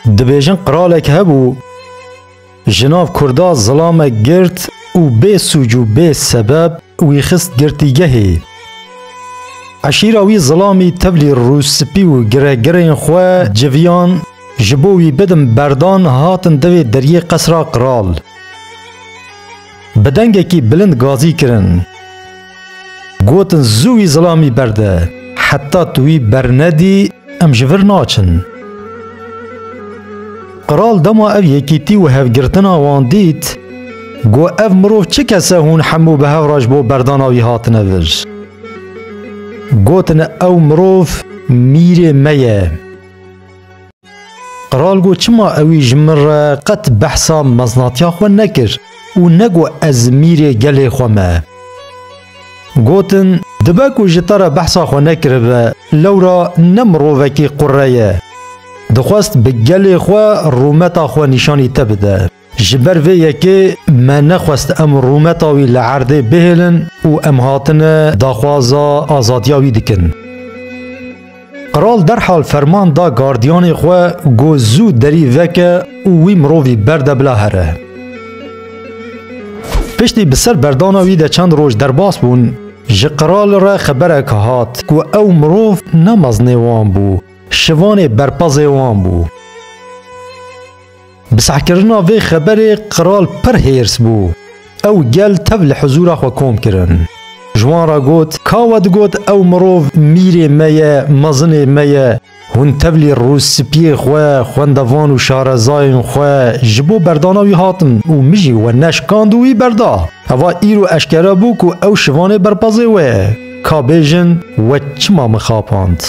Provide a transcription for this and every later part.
Dibêjin qiralek hebû ji nav kurda zilamek girt û bê sûc û bê sebeb wî xist girtîgehê. Eşîra wî zilamî tevlî rûspî û giregirên xwe civiyan ji bo wî bidin berdan hatin devê deriyê qesra qiral. Bi dengekî bilind gazî kirin. Gotin zû wî zilamî berde. Heta tu wî bernedî em ji vir naçin. Qral dema ev yekîtî û hevgirtina wan dît, got ev mirov çi kese hûn hemû bi hev re ji bo berdana wî hatine vir. Gotin ew mirov mîrê me ye. Qral got çima ewî ji min re qet behsa meznatiya xwe nekir û negot ez mîrê gelê xwe me. Gotin, dibe ku ji te re behsa xwe nekiribe, lewra ne mirovekî qureye. Dixwest bi gelê xwe rûmeta xwe nîşanî te bide. Ji ber vê yekê me nexwest em rûmeta wî li erdê bihêlin û em hatine daxwaza azadiya wî dikin. Qral derhal ferman da gardiyanê xwe ku zû derî veke û wî mirovî berde bila here. Piştî bi ser berdana wî de çend roj derbas bûn, ji qral re xeberek hat ku ew mirov ne mezinê wan bû, şivanê berpazê wan bû. Bi sehkirina vê xeberê qral pir hêrs bû. Ew gel tev li hizûra xwe kom kirin. Ji wan re got, Ka we digot ew mirov mîrê me ye, mezinê me ye, hûn tevlî rûspiyê xwe, xwendevan û şarezayên xwe ji bo berdana wî hatin û min jî we neşkand û wî berda. Heva îro eşkere bû ku ew şivanê berpazê we ye. Ka bêjin we çima min xapand?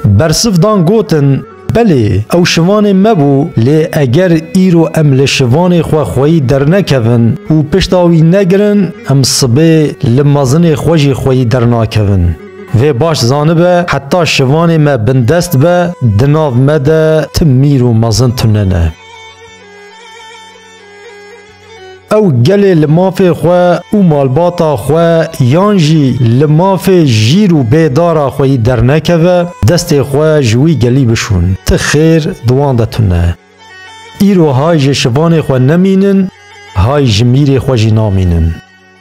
Bersiv dan gotin, Belê, ew şivanê me bû, lê eger îro em li şivanê xwe xweyî dernekevin û pişta wî negirin, em sibê li mezinê xwe jî xweyî dernakevin. Vê baş zanibe, heta şivanê me bindest be, di nav me de ti mîr û mezin tune ne. Ew gelê li mafê xwe û malbata xwe yan jî li mafê jîr û bê dara xwe yî dernekeve, destê xwe ji wî gelî bişon. Ti xêr di wan de tune. Îro hay ji şivanê xwe nemînin, hay ji mîrê xwe jî namînin.